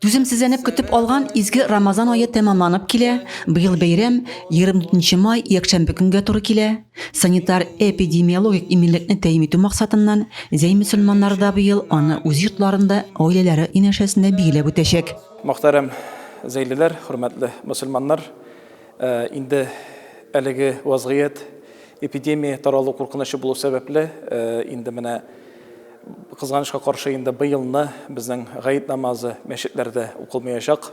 Түземсезләнеп көтеп алган изге Рамазан ае тәмамланып килә. Быел бәйрәм 24 май якшәмбе көнгә туры килә. Санитар-эпидемиологик иминлекне тәэмин итү максатыннан, Зәй мөселманнары да быел аны үз йортларында, гаиләләре янәшәсендә билгеләп үтәчәк. Мөхтәрәм зәйлеләр, хөрмәтле мөселманнар! Инде әлеге вазгыять, эпидемия таралу куркынычы булу сәбәпле, инде менә, Кызганычка каршы, инде быелны безнең гает намазы мәчетләрдә укылмаячак.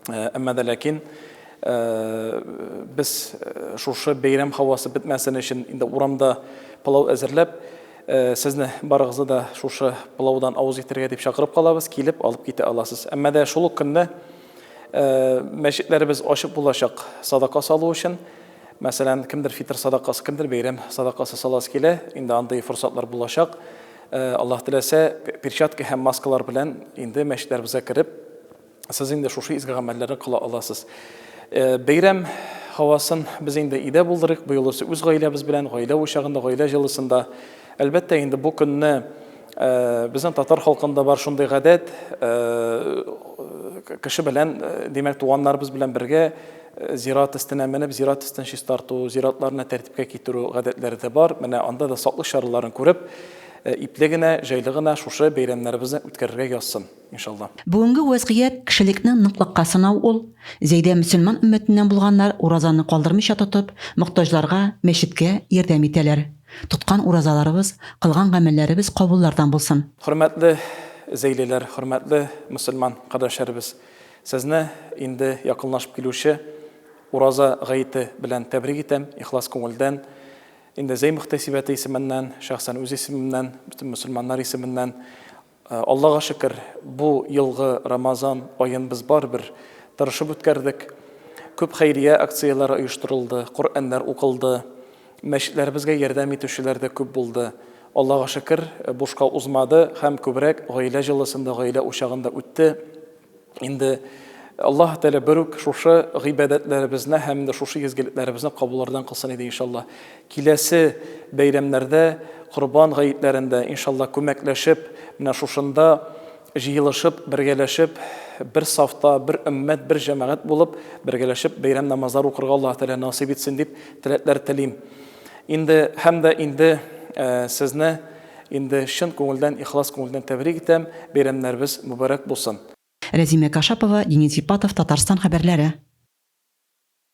Әмма дә ләкин без шушы бәйрәм һавасы бетмәсен өчен инде урамда пылау әзерләп, сезне барыгызны да шушы пылаудан авыз итәргә дип чакырып калабыз, килеп алып китә аласыз. Әмма дә шул ук көнне мәчетләребез ачык булачак садака салу өчен. Мәсәлән, кемдер фитр садакасы, кемдер бәйрәм садакасы саласы килә, инде андый форсатлар булачак. Аллаһ теләсә, перчатка һәм маскалар белән инде мәчетләребезгә кереп, сез инде шушы изге гамәлләрне кыла аласыз. Бәйрәм һавасын без инде өйдә булдырыйк, быел үзе үз гаиләбез белән, гаилә учагында, гаилә җылысында. Әлбәттә, инде бу көнне безнең татар халкында бар шундый гадәт, кеше белән, димәк, туганнарыбыз белән бергә Зират өстенә менеп, зират өстен чистарту, зиратларны тәртипкә китерү гадәтләре дә бар. Менә анда да саклык чараларын күреп, э, ипле генә, җайлы гына шушы бәйрәмнәребезне үткәрергә язсын, иншалла. Бүгенге вәзгыять кешелекнең ныклыкка сынау ул, Зәйдә мөселман өммәтеннән булганнар уразаны калдырмыйча тотып, мохтаҗларга, мәчеткә ярдәм итәләр. Тоткан уразаларыбыз, кылган гамәлләребез кабуллардан булсын. Хөрмәтле зәйлеләр, хөрмәтле мөселман кардәшләребез! Сезне инде якынлашып килүче Ураза гаете белән тәбрик итәм, ихлас күңелдән. Инде Зәй мөхтәсибәте исеменнән, шәхсән үз исемемнән, бөтен мөселманнар исеменнән Аллага шөкер, бу елгы Рамазан аен без барыбер тырышып үткәрдек. Күп хәйрия акцияләре оештырылды, Коръәннәр укылды. Мәчетләребезгә ярдәм итүчеләр дә күп булды. Аллага шөкер, бушка узмады һәм күбрәк гаилә җылысында, гаилә учагында үтте. Инде Аллаһ Тәгалә бер үк шушы гыйбадәтләребезне һәм инде шушы изгелекләребезне кабуллардан кылсын иде, иншаллаһ. Киләсе бәйрәмнәрдә, Корбан гаетләрендә, иншаллаһ, күмәкләшеп, менә шушында, Җыелышып, бергәләшеп, бер сафта, бер өммәт, бер җәмәгать булып, бергәләшеп бәйрәм намазлары укырга Аллаһы Тәгалә насыйп итсен дип теләкләр телим. Инде һәм дә инде сезне инде чын күңелдән, ихлас күңелдән тәбрик итәм, бәйрәмнәребез мөбарәк булсын. Рәзимә Кашапова, Денис Ипатов, Татарстан хәбәрләре.